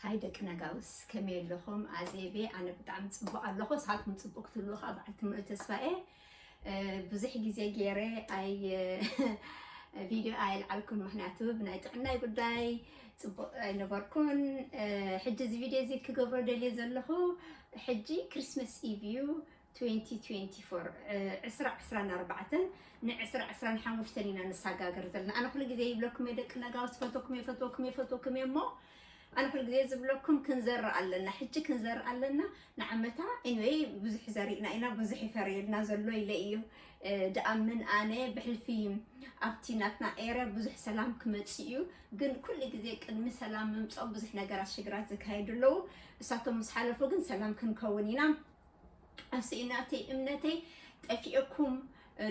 ሃይ ደቂ ነጋውስ ከመይ ኣለኹም? ኣዜቤ ኣነ ብጣዕሚ ፅቡቕ ኣለኹ። ንስኻትኩም ፅቡቕ ክትብሉ ከዓ በዓል ትምሉ ተስፋ እየ። ብዙሕ ግዜ ገይረ ኣይ ቪድዮ ኣየልዓልኩን፣ ምክንያቱ ብናይ ጥዕናይ ጉዳይ ፅቡቕ ኣይነበርኩን። ሕጂ እዚ ቪድዮ እዚ ክገብሮ ደልየ ዘለኹ ሕጂ ክርስመስ ኢቭ እዩ። ትዌንቲ ትዌንቲ ፎር ዕስራ ዕስራን ኣርባዕተን ንዕስራ ዕስራን ሓሙሽተን ኢና ንሰጋገር ዘለና ኣነ ኩሉ ግዜ ይብለኩም እየ ደቂ ነጋውስ ይፈትወኩም እየ ይፈትወኩም እየ ይፈትወኩም እየ እሞ ኣነ ኩሉ ግዜ ዝብለኩም ክንዘርእ ኣለና ሕጂ ክንዘርእ ኣለና ንዓመታ ኤኒዌይ ብዙሕ ዘሪእና ኢና ብዙሕ ይፈርየልና ዘሎ ኢለ እዩ እ፣ ድኣምን ኣነ ብሕልፊ ኣብቲ ናትና ኤረ ብዙሕ ሰላም ክመፅእ እዩ ግን ኩሉ ግዜ ቅድሚ ሰላም ምምፅኦም ብዙሕ ነገራት ሽግራት ዝካየዱ ኣለዉ እሳቶም ምስ ሓለፉ ግን ሰላም ክንከውን ኢና ኣስኢናተይ እምነተይ ጠፊኤኩም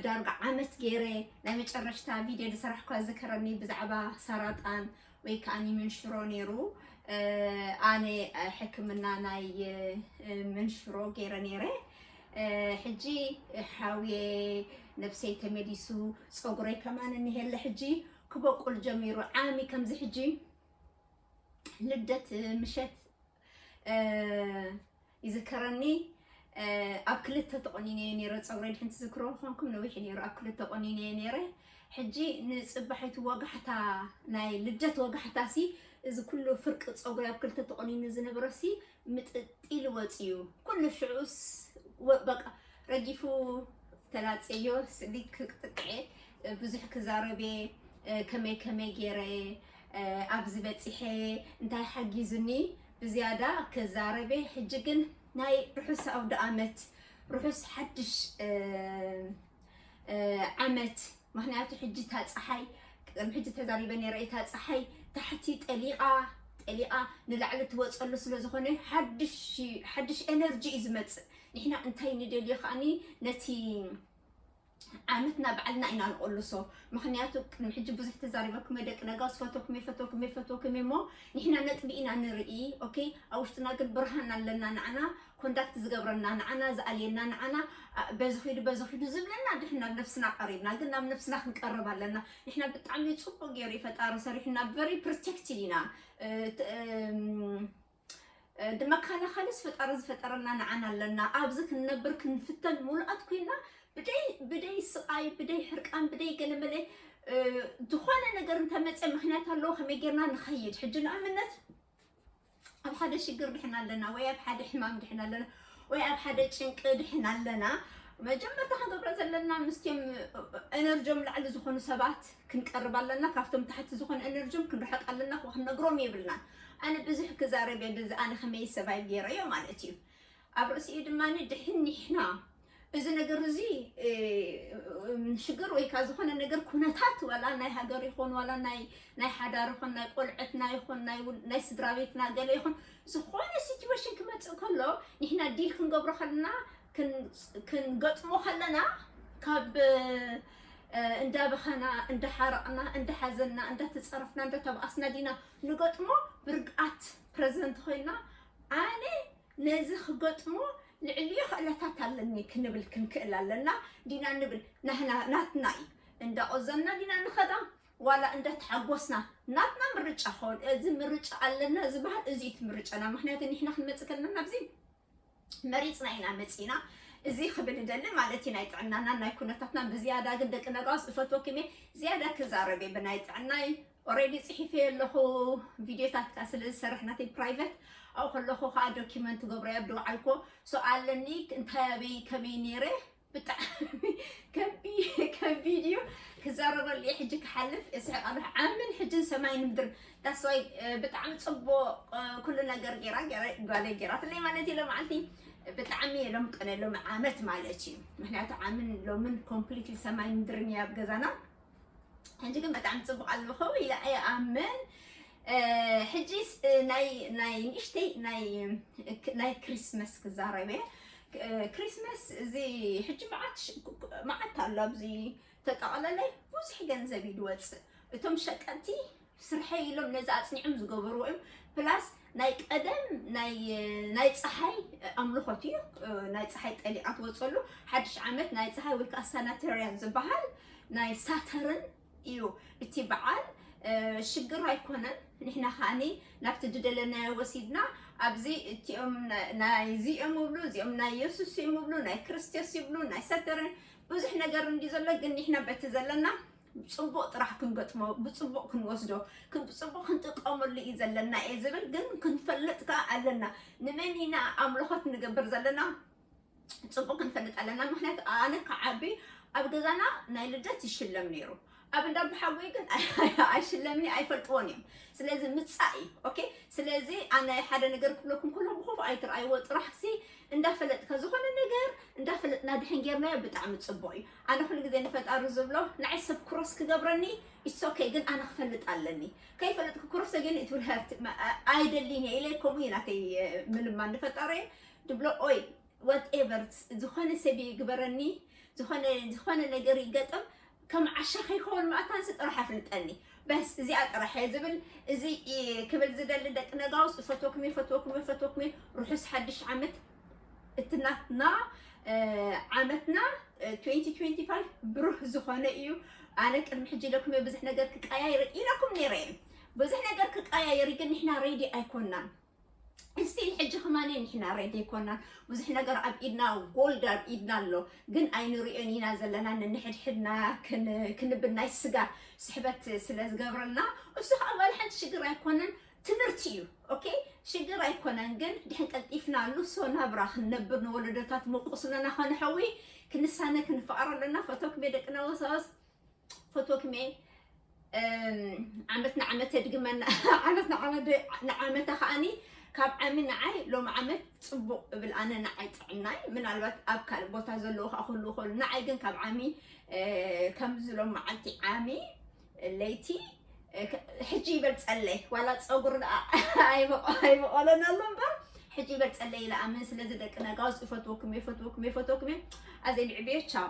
ዳርጋ ዓመት ገይረ ናይ መጨረሽታ ቪድዮ ዝሰራሕኳ ዝከረኒ ብዛዕባ ሰራጣን ወይ ከዓ መንሽሮ ነይሩ ኣነ ሕክምና ናይ መንሽሮ ገይረ ነይረ ሕጂ ሓውየ ነብሰይ ተመሊሱ ፀጉረይ ከማን እንሄለ ሕጂ ክበቁል ጀሚሩ ዓሚ ከምዚ ሕጂ ልደት ምሸት ይዝከረኒ ኣብ ክልተ ተቆኒነ ነረ ፀጉረይ ድሕንቲ ዝክሮ ኮንኩም ነዊሕ ነሩ ኣብ ክልተ ቆኒነ ነረ ሕጂ ንፅባሒቱ ወጋሕታ ናይ ልደት ወጋሕታ ሲ እዚ ኩሉ ፍርቂ ፀጉሪ ኣብ ክልተ ተቆኒኑ ዝነበረ ሲ ምጥጢሉ ወፅዩ ኩሉ ሽዑስ በቃ ረጊፉ ተላፀዮ ስሊክ ክጥቅዐ ብዙሕ ክዛረቤ ከመይ ከመይ ገይረ ኣብዚ በጺሐ እንታይ ሓጊዙኒ ብዝያዳ ክዛረበ ሕጂ ግን ናይ ርሑስ ኣውደኣመት ርሑስ ሓድሽ ዓመት ምክንያቱ ሕጂ እታ ፀሓይ ቅድሚ ሕጂ ተዛሪበ ነይረ እታ ፀሓይ ታሕቲ ጠሊቓ ጠሊቓ ንላዕሊ ትወፀሉ ስለ ዝኾነ ሓድሽ ኤነርጂ እዩ ዝመፅእ ንሕና እንታይ ንደልዮ ከዓኒ ነቲ ዓመት ናብ ባዕልና ኢና ንቕልሶ ምኽንያቱ ቅድሚ ሕጂ ብዙሕ ተዛሪበኩም እየ ደቂ ነጋስ ፈተኩም እየ ፈተኩም እየ ፈተኩም እየ እሞ ንሕና ነጥቢ ኢና ንርኢ ኦኬ ኣብ ውሽጥና ግን ብርሃን ኣለና ንዓና ኮንዳክት ዝገብረና ንዓና ዝኣልየና ንዓና በዚ ኺዱ በዚ ኺዱ ዝብለና ድሕን ናብ ነፍስና ቀሪብና ግን ናብ ነፍስና ክንቀርብ ኣለና ንሕና ብጣዕሚ ፅቡቅ ገይሩ ፈጣሪ ሰሪሑና ቨሪ ፕሮቴክትድ ኢና ንመካላኸልስ ፈጣሪ ዝፈጠረና ንዓና ኣለና። ኣብዚ ክንነብር ክንፍተን ሙሉኣት ኮይና ብደይ ስቓይ ብደይ ሕርቃን ብደይ ገለመለ ዝኾነ ነገር እንተመፀ ምክንያት ኣለዎ ከመይ ጌርና ንኸይድ ሕጂ ንኣብነት ኣብ ሓደ ሽግር ድሕና ኣለና ወይ ኣብ ሓደ ሕማም ድሕና ኣለና ወይ ኣብ ሓደ ጭንቂ ድሕን ኣለና መጀመርታ ክንገብሮ ዘለና ምስቲም ኤነርጆም ላዕሊ ዝኾኑ ሰባት ክንቀርብ ኣለና ካብቶም ታሕቲ ዝኾኑ ኤነርጆም ክንርሕቅ ኣለና ክንነግሮም የብልናን ኣነ ብዙሕ ክዛረብ የብዚ ኣነ ከመይ ሰባይ ገይረዮ ማለት እዩ ኣብ ርእሲኡ ድማ ድሕን ኒሕና እዚ ነገር እዚ ሽግር ወይ ካብ ዝኾነ ነገር ኩነታት ዋላ ናይ ሃገር ይኹን ዋላ ናይ ናይ ሓዳር ይኹን ናይ ቆልዐትና ይኹን ናይ ስድራ ቤትና ገለ ይኹን ዝኾነ ሲትዌሽን ክመፅእ ከሎ ንሕና ዲል ክንገብሮ ከለና ክንገጥሞ ከለና ካብ እንዳበኸና እንዳሓረቕና እንዳሓዘና እንዳተፀረፍና እንዳተባኣስና ዲና ንገጥሞ ብርግኣት ፕረዘንት ኮይና ኣነ ነዚ ክገጥሞ ልዕልዮ ክእለታት ኣለኒ ክንብል ክንክእል ኣለና ዲና ንብል ናህና ናትና እዩ እንዳቆዘምና ዲና ንኸዳ ዋላ እንዳተሓጎስና ናትና ምርጫ ኾን እዚ ምርጫ ኣለና ዝበሃል እዚ እቲ ምርጫና ምክንያቱ ንሕና ክንመፅእ ከለና ናብዚ መሪፅና ኢና መፂና እዚ ክብል ደሊ ማለት እዩ ናይ ጥዕናና ናይ ኩነታትና ብዝያዳ ግን ደቂ ነጋውስ እፈትወኩም እየ ዝያዳ ክዛረብ እየ ብናይ ጥዕናይ ኦሬዲ ጽሒፈዮ ኣለኹ ቪድዮታት ከኣ ስለ ዝሰርሕ ናተይ ፕራይቨት ኣብኡ ከለኹ ከዓ ዶኪመንት ትገብሮ ኣብ ደውዓልኮ ሰው ኣለኒ እንታይ ኣበይ ከመይ ነይረ ብጣዕሚ ከቢድ እዩ ክዛረበሉ እየ ሕጂ ክሓልፍ እስሕቅ ኣለሁ ዓምን ሕጅን ሰማይን ምድርን ዳስዋይ ብጣዕሚ ፅቡቅ ኩሉ ነገር ጌራ ጓለይ ጌራትለይ ማለት እዩ ሎመዓልቲ ብጣዕሚ እየ ሎም ቅነ ሎም ዓመት ማለት እዩ ምክንያቱ ዓምን ሎምን ኮምፕሊትሊ ሰማይን ምድርን እየ ኣብ ገዛና ሕጂ ግን ብጣዕሚ ጽቡቕ ኣለኹ ኢለ ይኣምን ሕጂስ ናይ ናይ ንእሽተይ ናይ ናይ ክሪስመስ ክዛረብ እየ ክሪስመስ እዚ ሕጂ መዓት መዓት ኣሎ ኣብዚ ተጠቕለለ ብዙሕ ገንዘብ እዩ ዝወፅእ እቶም ሸቀጥቲ ስርሐይ ኢሎም ነዚ ኣጽኒዕም ዝገበርዎ እዮም ፕላስ ናይ ቀደም ናይ ፀሓይ ኣምልኾት እዩ ናይ ፀሓይ ጠሊዓ ትወፀሉ ሓድሽ ዓመት ናይ ፀሓይ ወይ ከዓ ሳናተርያን ዝበሃል ናይ ሳተርን እዩ እቲ በዓል ሽግር ኣይኮነን ንሕና ከዓኒ ናብቲ ዝደለናዮ ወሲድና ኣብዚ እቲኦም ናይዚ እዮም እብሉ እዚኦም ናይ የሱስ እዮም እብሉ ናይ ክርስቶስ ይብሉ ናይ ሰተርን ብዙሕ ነገር እንዲ ዘሎ ግን ንሕና በቲ ዘለና ብፅቡቅ ጥራሕ ክንገጥሞ ብፅቡቅ ክንወስዶ ብፅቡቅ ክንጥቀመሉ እዩ ዘለና እየ ዝብል ግን ክንፈልጥ ከዓ ኣለና ንመን ኢና ኣምልኾት ንገብር ዘለና ፅቡቅ ክንፈልጥ ኣለና ምክንያቱ ኣነ ክዓቢ ኣብ ገዛና ናይ ልደት ይሽለም ነይሩ ኣብ እንዳ ብሓጎይ ግን ኣይሽለምኒ ኣይፈልጥዎን እዮም ስለዚ ምፃእ እዩ ኦኬ ስለዚ ኣነ ሓደ ነገር ክብለኩም ከሎ ብኹፍ ኣይትርኣይዎ ጥራሕ ሲ እንዳፈለጥካ ዝኾነ ነገር እንዳፈለጥና ድሕን ጌርናዮ ብጣዕሚ ፅቡቅ እዩ ኣነ ኩሉ ግዜ ንፈጣሪ ዝብሎ ንዓይ ሰብ ክሮስ ክገብረኒ ኢትስ ኦከይ ግን ኣነ ክፈልጥ ኣለኒ ከይፈለጥኩ ክሮስ ተገይሩ ኢት ዊል ሀርት ኣይደሊን እየ ኢለ ከምኡ እዩ ናተይ ምልማን ንፈጣሪየ ድብሎ ኦይ ዋት ኤቨር ዝኾነ ሰብ ይግበረኒ ዝኾነ ዝኾነ ነገር ይገጥም ከም ዓሻ ከይከውን መኣታንሲ ጥራሕ ኣፍልጠኒ በስ እዚኣ ጥራሕ እየ ዝብል እዚ ክብል ዝደሊ ደቂ ነጋውስ እፈትወኩም እየ ፈትወኩም እየ ፈትወኩም እየ ርሑስ ሓድሽ ዓመት እቲ ናትና ዓመትና 2025 ብሩህ ዝኾነ እዩ ኣነ ቅድሚ ሕጂ ኢለኩም ብዙሕ ነገር ክቀያየር ኢለኩም ነይረ እየ ብዙሕ ነገር ክቀያየር ግን ንሕና ሬዲ ኣይኮናን እስቲል ሕጂ ከማነ ንሕና ሬዲ ኣይኮናን ብዙሕ ነገር ኣብ ኢድና ጎልድ ኣብ ኢድና ኣሎ ግን ኣይንሪኦን ኢና ዘለና ንንሕድሕድና ክንብል ናይ ስጋ ስሕበት ስለ ዝገብረልና እሱ ከዓ ዋላ ሓንቲ ሽግር ኣይኮነን ትምህርቲ እዩ ኦኬ ሽግር ኣይኮነን ግን ድሕን ቀልጢፍና ንሶ ናብራ ክንነብር ንወለዶታት መቁስለና ከንሐዊ ክንሳነ ክንፈኣሮ ኣለና ፈቶክሜ ደቅና ወሳወስ ፈቶክሜ ዓመት ንዓመት የድግመና ዓመት ንዓመት ከዓኒ ካብ ዓሚ ንዓይ ሎም ዓመት ፅቡቕ እብል ኣነ ንዓይ ጥዕናይ ምናልባት ኣብ ካልእ ቦታ ዘለዎ ከዓ ክህሉ ይኽእሉ ንዓይ ግን ካብ ዓሚ ከምዚ ሎም መዓልቲ ዓሚ ለይቲ ሕጂ ይበል ጸለይ ዋላ ፀጉር ደኣ ኣይበቆለን ኣሎ እምበር ሕጂ ይበል ጸለይ ኢለ ኣምን ስለዚ ደቂ ነጋውስ እፈትወኩም እየ እፈትወኩም እየ እፈትወኩም እየ ኣዘይ ንዕብዮ ቻው